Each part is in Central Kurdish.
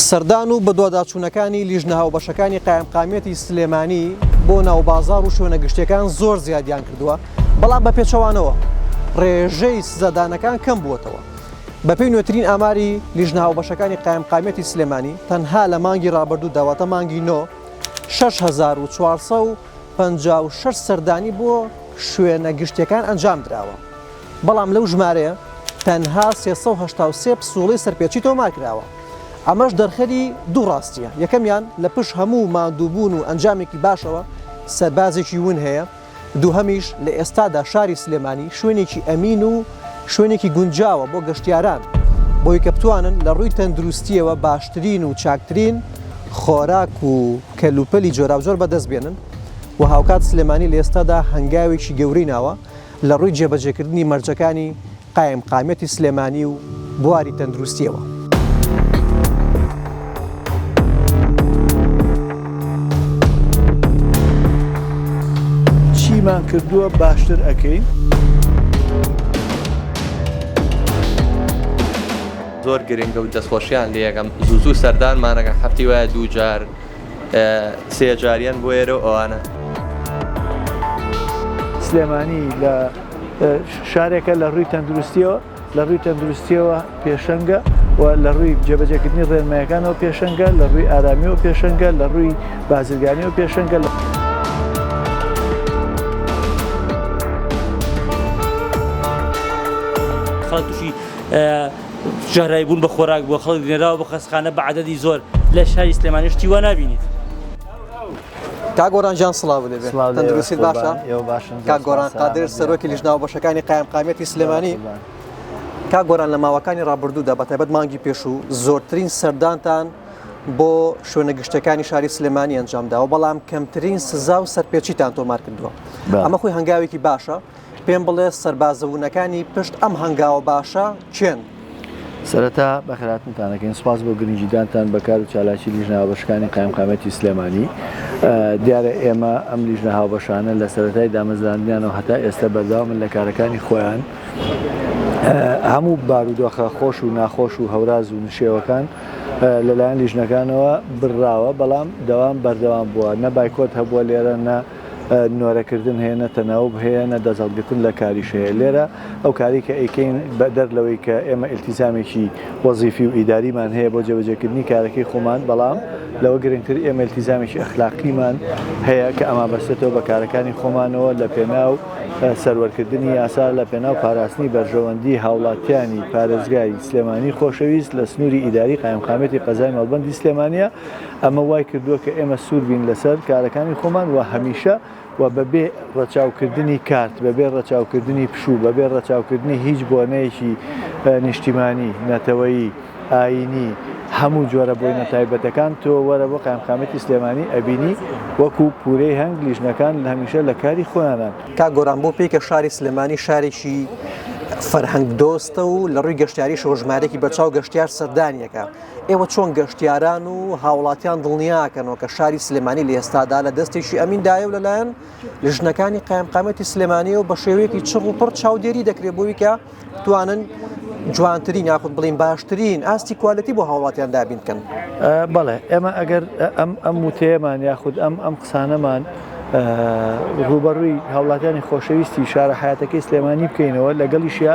سەردان و بەدواداچوونەکانی لیژنە هاوبەشەکانی قایمقامیەتی سلێمانی بۆ ناوبازاڕ و شوێنە گشتیەکان زۆر زیادیان کردووە، بەڵام بە پێچەوانەوە ڕێژەی سزادانەکان کەم بووەتەوە. بەپێی نوێترین ئاماری لیژنە هاوبەشەکانی قایمقامیەتی سلێمانی، تەنها لە مانگی ڕابردوودا واتە مانگی نۆ شەش هەزار و چوار سەد و پەنجا و شەش سەردانی بۆ شوێنە گشتیەکان ئەنجامدراوە. بەڵام لەو ژمارەیە تەنها سێ سەد و هەشتا و سێ پسووڵەی سەرپێچی تۆمارکراوە، ئەمەش دەرخەری دوو ڕاستییە، یەکەمیان لە پشت هەموو ماندووبوون و ئەنجامێکی باشەوە سەربازێکی ون هەیە، دووهەمیش لە ئێستادا شاری سلێمانی شوێنێکی ئەمین و شوێنێکی گونجاوە بۆ گەشتیاران بۆی کە بتوانن لە ڕووی تەندروستییەوە باشترین و چاکترین خۆراک و کەلوپەلی جۆراوجۆر بەدەستبێنن و هاوکات سلێمانی لە ئێستادا هەنگاوێکی گەورەی ناوە لە ڕووی جێبەجێکردنی مەرجەکانی قایمقامیەتی سلێمانی و بواری تەندروستیەوە. چیمان کردووە باشتر ئەکەین؟ زۆر گرنگە و دەستخۆشیان لێ یەکەم زوو زوو سەردانمانەکە هەفتی وایە دوو جار. سێ جاریان بۆ ئێرە و ئەوانە. سلێمانی لە شارێکە لە ڕووی تەندروستیەوە لە ڕووی تەندروستیەوە پێشەنگە و لە ڕووی جێبەجێکردنی ڕێنمایەکانەوە پێشەنگە لە ڕووی ئارامی و پێشەنگە لە ڕووی بازرگانی و پێشەنگە لە خەڵک تووشی ژەهراوی بوون بە خۆراک بۆ خەڵک نێراوە بۆ خەستخانە بە عەدەدی زۆر لە شاری سلێمانی شتی وا نابینیت. کاک گۆران جان سڵاو لێ تەندروستی باشە کاک گۆران قادر سەرۆکی لیژناو بەشەکانی قایمقامیەتی سلێمانی کا گۆران لە ماوەکانی ڕابردوودا بە تایبەت مانگی پێشوو زۆرترین سەردانتان بۆ شوێنە گشتەکانی شاری سلێمانی ئەنجامداوە بەڵام کەمترین سزا و سەرپێچیتان تۆمار کردووە ئەمە خۆی هەنگاوێکی باشە پێم بڵێ سەربازە ونەکانی پشت ئەم هەنگاوە باشە کێن؟ سەرەتا بەخێراتنتانەکەین سپاس بۆ گرنگیدانتان بەکار و چالاکی لیژنە هاوبەشەکانی قایمقامیەتی سلێمانی دیارە ئێمە ئەم لیژنە هاوبەشانە لە سەرەتای دامەزراندنیانەوە هەتا ئێستا بەردەوامن لە کارەکانی خۆیان هەموو بارودۆخە خۆش و ناخۆش و هەوراز و نشێوەکان لەلایەن لیژنەکانەوە بڕاوە بەڵام دەوام بەردەوام بووە نە بایکۆت هەبووە لێرە نە نۆرەکردن هەیە نە تەناوب هەیە نە دەست هەڵگرتن لە کاریش هەیە لێرە ئەو کاری کە ئەیکەین بەدەر لەوەی کە ئێمە ئیلتیزامێکی وەزیفی و ئیداریمان هەیە بۆ جێبەجێکردنی کارەکەی خۆمان بەڵام لەوە گرنگتر ئێمە ئیلتیزامێکی ئەخلاقیمان هەیە کە ئەمان بەستێتەوە بە کارەکانی خۆمانەوە لە پێناو سەروەرکردنی یاسا لە پێناو پاراستنی بەرژەوەندی هاوڵاتیانی پارێزگای سلێمانی خۆشەویست لە سنووری ئیداری قایمقامیەتی قەزای مەڵبەندی سلێمانیە ئەمە وای کردووە کە ئێمە سوور بین لەسەر کارەکانی خۆمان و هەمیشە و بەبێ ڕەچاوکردنی کارت، بەبێ ڕەچاوکردنی پشوو، بەبێ ڕەچاوکردنی هیچ بۆنەیەکی نیشتیمانی، نەتەوەیی، ئایینی، هەموو جۆرە بۆینە تایبەتەکان، تۆ وەرە بۆ قایمقامیەتی سلێمانی ئەبینی وەکو پوورەی هەنگ لیژنەکان هەمیشە لە کاری خۆیانن. کاک گۆران بۆ پێی کە شاری سلێمانی شارێکی فەرهەنگ دۆستە و لە ڕووی گەشتیاریشەوە ژمارەیەکی بەرچاو گەشتیار سەردانیەکە، ئێوە چۆن گەشتیاران و هاوڵاتیان دڵنیاکەنەوە کە شاری سلێمانی لە ئێستادا لە دەستێکی ئەمیندایە و لەلایەن لە ژنەکانی قایمقامەتی سلێمانیەوە بە شێوەیەکی چڕ و پڕ چاودێری دەکرێت بۆی کە توانن جوانترین یاخود بڵین باشترین ئاستی کوالەتی بۆ هاوڵاتیان دابین بکەن بەڵێ ئێمە ئەگەر ئەم ئەم وتێمان یاخود ئەم ئەم قسانەمان ڕوبەڕووی هاوڵاتیانی خۆشەویستی شارە حیاتەکەی سلێمانی بکەینەوە لەگەڵیشە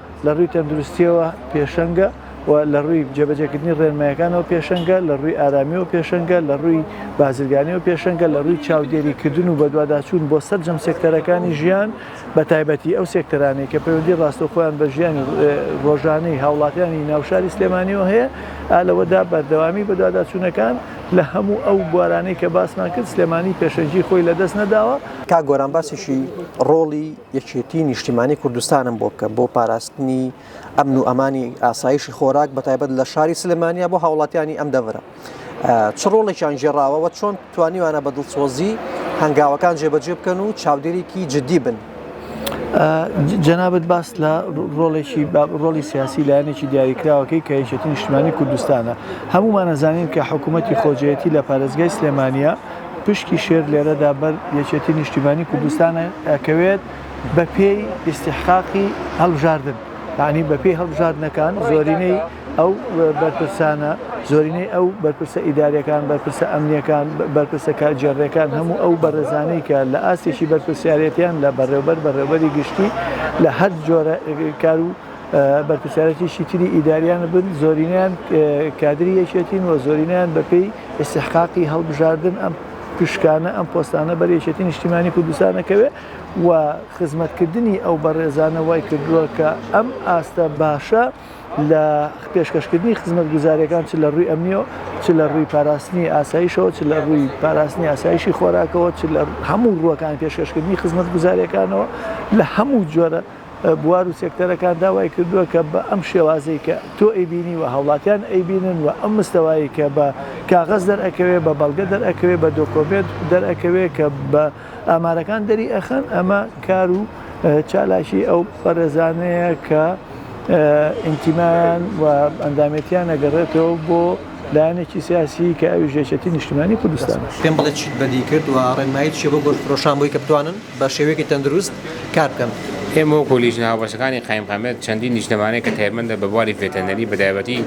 لە ڕووی تەندروستییەوە پێشەنگە و لە ڕووی جێبەجێکردنی ڕێنماییەکانەوە پێشەنگە، لە ڕووی ئارامییەوە پێشەنگە، لە ڕووی بازرگانییەوە پێشەنگە، لە ڕووی چاودێریکردن و بەدواداچوون بۆ سەرجەم سێکتەرەکانی ژیان، بەتایبەتی ئەو سێکتەرانەی کە پەیوەندیی ڕاستەوخۆیان بە ژیانی ڕۆژانەی هاوڵاتیانی ناو شاری سلێمانییەوە هەیە، ئا لەوەدا بەردەوامیی بەدواداچوونەکان لە هەموو ئەو بوارانەی کە باسمان کرد، سلێمانی پێشەنگیی خۆی لەدەست نەداوە. کاک گۆران باسیشی ڕۆڵی یەکێتی نیشتیمانی کوردستانم بۆ بکەم بۆ پاراستنی ئەمن و ئەمانی ئاسایشی خۆراک بە تایبەت لە شاری سلمانیا بۆ هاوڵاتیانی ئەم دەورە چ ڕۆڵێکیان ژێڕاوەوە چۆن توانیوانە بە دڵسۆزی هەنگاوەکان جێبەجێ بکەن و چاودێرێکی جددی بن جەنابەت باس لە ڕۆڵێکی ڕۆڵی سیاسی لایەنێکی دیاریکراوەکەی کە یەکێتی نیشتمانی کوردستانە هەمومان نەزانین کە حکوومەتتی خۆجێتی لە پارێزگای سلێمانە پشکی شێر لێرەدا بەر یەکێتی نیشتیمانی کوردستان ئەکەوێت بە پێی ئیستیحقاقی هەڵبژاردن یانی بە پێی هەڵبژاردنەکان زۆرینەی ئەو بەرپرسانە زۆرینەی ئەو بەرپرسە ئیدارەکان بەرپرسە ئەمنیەکان بەرپرسە کارگێڕیەکان هەموو ئەو بەڕێزانەی کە لە ئاستێکی بەرپرسیارێتیان لە بەڕێوبەر بەڕێوبەری گشتی لە هەر جۆرە کارو بەرپرسیارێتیی تری ئیدارییان بن، زۆرینەیان کادری یەکێتین و زۆرینەیان بەپێی ئیستحقاقی هەڵبژاردن ئەم پشکانە، ئەم پۆستانە بەر یەکێتیی نیشتیمانیی کوردستان ئەکەوێ و خزمەتکردنی ئەو بەڕێزانە وای کردووە کە ئەم ئاستە باشە لە پێشکەشکردنی خزمەتگوزارییەکان چ لە رووی ئەمنی و چ لە رووی پاراستنی ئاسایشەوە چ لە رووی پاراستنی ئاسایشی خۆراکەوە چ لە هەموو رووەکانی پێشکەشکردنی خزمەتگوزارییەکانەوە لە هەموو جۆرە بوار و سێکتەرەکان داوای کردووە کە بە ئەم شێوازەی کە تۆ ئەیبینی و هاوڵاتیان ئەیبینن و ئەم مستەوایەی کە بە کاغەز دەرئەکەوێ، بە بەڵگە دەرئەکەوێ، بە دۆکۆمێنت دەرئەکەوێ کە بە ئامارەکان دەری ئەخەن، ئەمە کار و چالاکی ئەو بەڕێزانەیە کە ئینتیمایان و ئەندامێتیان ئەگەڕێتەوە بۆ لایەنێکی سیاسی کە ئەویش یەکێتی نیشتیمانی کوردستانە. پێم بڵێ چیت بەدی کرد و ڕێنمایی چیە بۆ گۆشتفرۆشان بۆی کە بتوانن بە شێوەیەکی تەندروست کار بکەن. ئێمە وەکو لیژنە هاوبەشەکانی قایمقامیەت چەندین نیشتمانەی کە تایبەندە بە بواری ڤێتەرنەری بە تایبەتی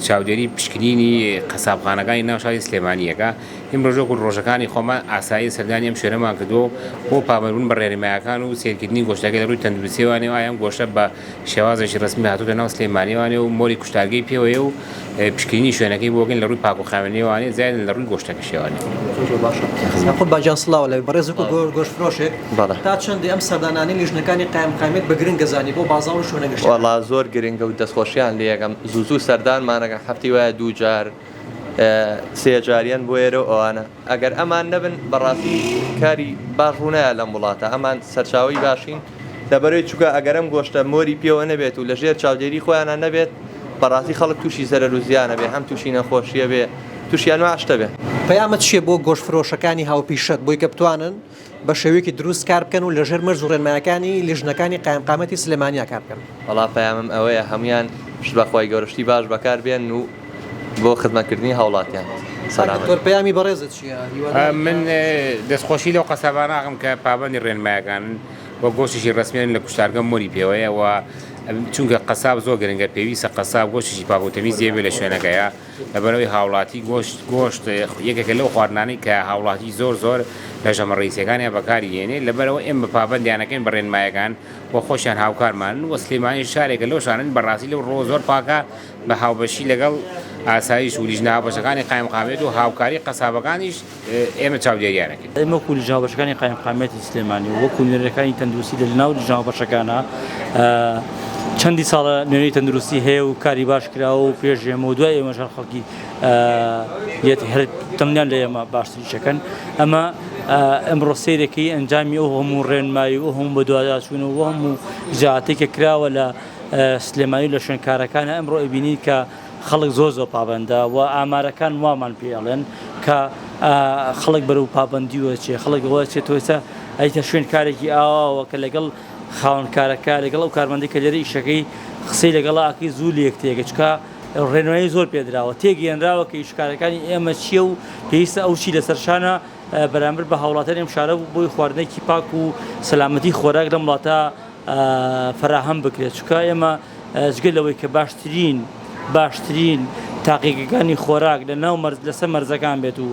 چاودێری پشکنینی قەسابخانەکانی ناو شاری سلێمانیەکە ئیمڕۆژ وەکو ڕۆژەکانی خۆمان ئاسایی سەردانی ئەم شوێنەمان کردووە و بۆ پابەندبوون بە ڕێنمایەکان و سەیرکردنی گۆشتەکە لە ڕووی تەندروستیەوە ئایا ئەم گۆشتە بە شێوازێکی رەسمی هاتووتە ناو سلێمانیەوانێ و مۆری کوشتارگەی پێوەیە و پشکنینی شوێنەکەی بۆ گەن لە رووی پاکوخاوێنیەوانێ زیادن لە رووی گۆشتەکەشیەوانێ. زۆر باشە یاخوت باجان سڵاو لە بەڕێز وەکو گۆشت فرۆشێک تا چەندی ئەم سەردانانەی لیژنەکانی قایمقامیەت بە گرنگە زانی بۆ بازاڕ و شوێنە گشتیەکان. وەڵا زۆر گرنگە و دەستخۆشیان لێەکەم زوو زوو سەردانمان ئەکەن هەفتەی وایە دوو جار سێ جار یەن بۆ ئێرە و ئەوانە. ئەگەر ئەمان نەبن بەڕاستی کاری باش ڕوونایە لەم وڵاتە ئەمان سەرچاوەی باشین لەبەرەی چووکە ئەگەر ئەم گۆشتە مۆری پێوە نەبێت و لەژێر چاودێری خۆیانە نەبێت بەڕاستی خەڵک تووشی زەرەر و زیانە بێ هەم تووشی نەخۆشیە بێ تووشیان واشتە بێ. پەیامت چیە بۆ گۆشت فرۆشەکانی هاوپیشەت بۆی کە بتوانن بە شێوەیەکی دروست کار بکەن و لەژێر مەرج و ڕێنمایەکانی لیژنەکانی قایمقامەتی سلێمانیا کار بکەن. وەڵا پەیامم ئەوەیە هەموویان پشت بە خوای گەورە شتی باش بەکار بێنن و بۆ خزمەت کردنی هاوڵاتیان سەلامەت بن. دکتۆر پەیامی بەڕێزت چیە هیوادارین کە. من دەست خۆشی لەو قەسابانە ئەکەم کە پابەندی ڕێنمایەکانن و گۆشتیشی ڕەسمیانە لە کوشتارگە مۆری پێوەیە و چونکە قەساب زۆر گرنگە پێویستە قەساب گۆشتیشی پاک و تەمیز لێبێت لە شوێنەکەیا. لەبەرئەوەی هاوڵاتی گۆشت گۆشت یەکێکە لەو خواردنانەی کە هاوڵاتی زۆر زۆر لە ژەمە ڕیزیەکانیا بەکاری هێنێ لەبەرئەوە ئێمە پابەندیانەکەین بە ڕێنمایەکان و خۆشیان هاوکارمانن و سلێمانیش شارێکە لەو شانن بەڕاستی لەو ڕۆ زۆر پاکە بە هاوبەشی لەگەڵ ئاسایش و لیژنە هاوبەشەکانی قایمقامیەت و هاوکاری قەسابەکانیش ئێمە چاودێریانەکەین. ئێمە وەکو لجنە هاوبەشەکانی قایمقامیەتی سلێمانی و وەکو نوێنەرەکانی تەندروستی لە لەناو لجنە هاوبەشەکانە چەندی ساڵە نوێنەری تەندروستی هەیە و کاری باش کراوە و پێش ئێمە و دوای ئێمەش هەر خەڵکی یەتی هەر دڵنیان لە ئێمە باشتریشەکەن ئەمە ئەمڕۆ سیرەکەی ئەنجامی ئەو هەموو ڕێنمایی و هەموو بەدواداچوون و هەموو جاتێکە کراوە لە سلێمانی لە شوێنکارەکانە ئەمڕۆ ئەبینین کە خەڵک زۆر زۆر پابەندە و ئامارەکان وامان پێ ئەڵێن کە خەڵک بەرەو پابندی وەچێ خەڵک ئەوە چێتۆسە ئەیتە شوێن کارێکی ئاواوە کە لەگەڵ خاونکارەکە لەگەڵ ئەو کارمەندی کە لێرە ئیشەکەی قسەی لەگەڵاکی زوو لێک تێگە چکە ڕێنوایی زۆر پێدراوە تێگەێنراوە کە ئیشکارەکانی ئێمە چییە و پێویستە ئەو چی لەسەر شانە بەرامبەر بە هاوڵاتەر ئەم شارە بۆی خواردنێکی پاک و سەلامەتی خۆراک لەم وڵاتە فەراهەم بکرێت چونکە ئێمە جگە لەوەی کە باشترین باشترین تاقیگەکانی خۆراک لە ناو مەرز لەسەر مەرزەکان بێت و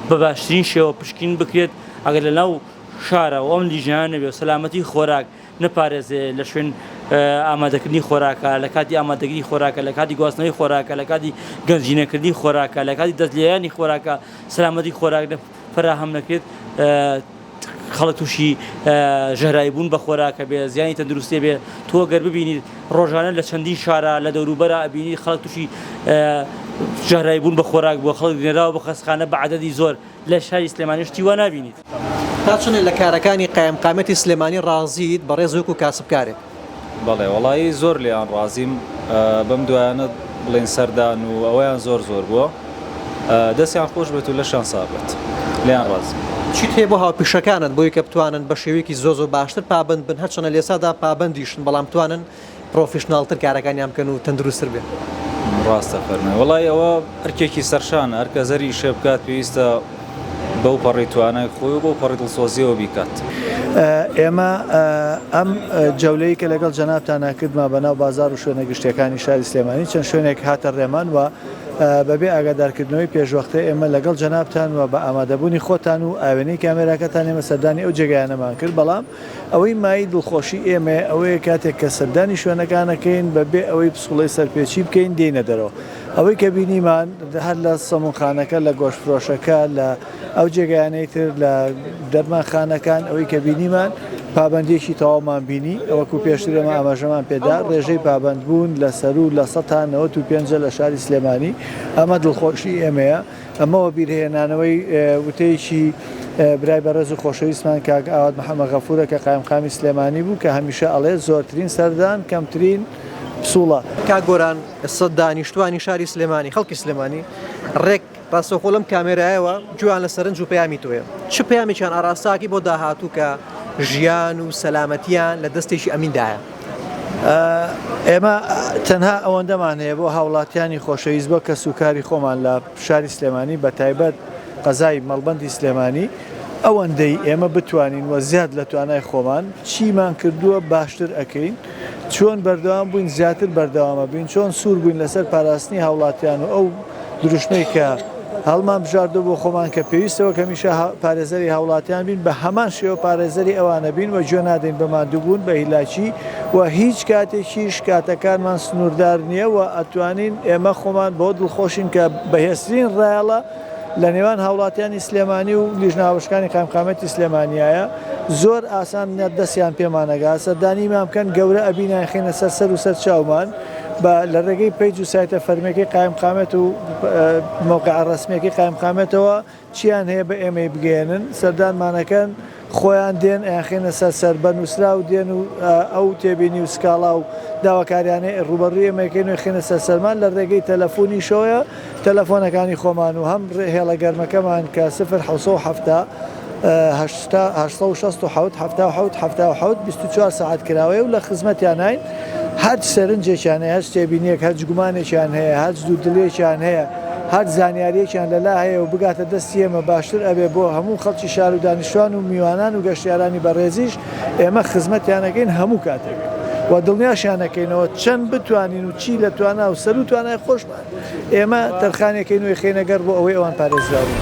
بە باشترین شێوە پشکین بکرێت ئەگەر لە ناو شارە و ئەم لیژیان نەبێت سەلامەتی خۆراک نەپارێزێ لە شوێن ئامادەکردنی خۆراکە لە کاتی ئامادەگیری خۆراکە لە کاتی گواستنەوەی خۆراکە لە کاتی گەنجینەکردنی خۆراکە لە کاتی دەستلیانی خۆراکە سەلامەتی خۆراک فەراهەم نەکرێت خەڵک تووشی ژەهراوی بوون بە خۆراکە بێ زیانی تەندروستێ بێ تۆ گەر ببینیت ڕۆژانە لە چەندین شارە لە دەوروبەرە ئەبینی خەڵک تووشی ژەهراوی بوون بە خۆراک بۆ خەڵک نێراوە بۆ خەستخانە بە عەدەدی زۆر لە شاری سلێمانی شتی وا نابینیت. تا چەندێک لە کارەکانی قایمقامیەتی سلێمانی ڕازیت بەڕێز وەکو کاسبکارێک؟ بەڵێ وەڵایی زۆر لێیان ڕازیم بەم دوایانە بڵێن سەردان و ئەوەیان زۆر زۆر بووە دەستیان خۆش بێت و لەشان سابێت لێیان ڕازیم. چیت هەیە بۆ هاوپیشەکانت بۆی کە بتوانن بە شێوەیەکی زۆر زۆر باشتر پابەند بن هەرچەنە لێسادا پابەندیشن بەڵام بتوانن پڕۆفیشناڵتر کارەکانیان بکەن و تەندروستتر بێت؟ ڕاستە فەرمووی وەڵایی ئەوە ئەرکێکی سەرشانە هەرکەس هەر ئیشێ بکات پێویستە بەو پەڕی توانای خۆی و بەو پەڕی دڵسۆزیەوە بیکات. ئێمە ئەم جەولەی کە لەگەڵ جەنابتانا کردمان بە ناو بازار و شوێنە گشتیەکانی شاری سلێمانی چەند شوێنێک هاتە ڕێمان و بە بێ ئاگادارکردنەوەی پێشوەختە ئێمە لەگەڵ جەنابتان و بە ئامادەبوونی خۆتان و ئاوێنەی کامێراکەتان ئێمە سەردانی ئەو جێگایانەمان کرد بەڵام ئەوەی مایەی دڵخۆشی ئێمەیە ئەوەیە کاتێک کە سەردانی شوێنەکان ئەکەین بە بێ ئەوەی پسوڵەی سەرپێچی بکەین دێینە دەرەوە ئەوەی کە بینیمان هەر لە سەمونخانەکە لە گۆشتفرۆشەکە لە ئەو جێگایانەی تر لە دەرمانخانەکان ئەوەی کە بینیمان پابەندیەکی تەواومان بینی ئەوەکو پێشتر ئێمە ئاماژەمان پێدا ڕێژەی پابەندبوون لە سەروو لە سەتا نەوەت و پێنجە لە شاری سلێمانی ئەمە دڵخۆشی ئێمەیە. ئەمە وەبیرهێنانەوەی وتەیەکی برای بەڕێز و خۆشەویستمان کاک ئاوات محەمەد غەفوورە کە قایمقامی سلێمانی بوو کە هەمیشە ئەڵێت زۆرترین سەردان کەمترین پسوڵە. کاک گۆران ئێستا دانیشتوانی شاری سلێمانی خەڵکی سلێمانی ڕێک ڕاستەوخۆ لەم کامێرایەوە گوێیان لە سەرنج و پەیامی تۆیە چ پەیامێکیان ئاراستاکەی بۆ داهاتوو کە ژیان و سەلامەتیان لە دەستێکی ئەمین دایە؟ ئێمە تەنها ئەوەندەمان هەیە بۆ هاوڵاتیانی خۆشەویست بۆ کەس و کاری خۆمان لە شاری سلێمانی بە تایبەت قەزای مەڵبندی سلێمانی ئەوەندەی ئێمە بتوانین وە زیاد لە توانای خۆمان چیمان کردووە باشتر ئەەکەین چۆن بەردەوام بووین زیاتر بەردەوامە بین چۆن سوور بووین لەسەر پاراستنی هاوڵاتیان و ئەو دروشمەی کە هەڵمان بژاردوە بۆ خۆمان کە پێویستە وەک هەمیشە پارێزەری هاوڵاتیان بین بە هەمان شێوە پارێزەری ئەوانە بین و گوێ نادەین بە ماندووبوون بە هیلاکی و هیچ کاتێکیش کاتەکانمان سنووردار نییە و ئەتوانین ئێمە خۆمان بۆ دڵخۆشین کە بەهێزترین ڕایەڵە لە نێوان هاوڵاتیانی سلێمانی و لیژنە هاوبەشەکانی قایمقامیەتی سلێمانیایە زۆر ئاسان دەستیان پێمانەگا سەردانیمان بکەن گەورە ئەبین یانخەینە سەر سەر و سەر چاومان با لە ڕێگەی پەیج و سایتە فەرمییەکەی قایمقامێت و مەوقعە ڕەسمییەکەی قایمقامێتەوە چییان هەیە بە ئێمەی بگەیەنن، سەردانمان ئەکەن، خۆیان دێن ئەیانخەینە سەر سەر، بە نووسراو دێن و ئەو تێبینی و سکاڵا و داواکارییانەی ڕووبەڕووی ئێمە ئەکەین و ئەیخەینە سەر سەرمان لە ڕێگەی تەلەفونیشەوەیە، تەلەفۆنەکانی خۆمان و هەم هێڵە گەرمەکەمان کە سفر حەوت سەد و حەفتا. هەشتا هەشت سەد و شەست و حەوت حەفتا و حەوت حەفتا و حەوت بیست و چوار سەعات کراوەیە و لە خزمەتیاناین هەرچ سەرنجێکیان هەیە هەرچ تێبینیەک هەرچ گومانێکیان هەیە هەرچ دوودڵیەکیان هەیە هەرچ زانیاریەکیان لەلا هەیە و بگاتە دەستی ئێمە باشتر ئەبێ بۆ هەموو خەڵکی شار و دانیشتوان و میوانان و گەشتیارانی بەڕێزیش ئێمە خزمەتیانەکەین هەموو کاتێک و دڵنیاشیانەکەینەوە چەند بتوانین و چی لە توانا و سەرو توانای خۆشمان ئێمە تەرخانێکی نوێ خەینە گەڕ بۆ ئەوەی ئەوان پارێزراو بن.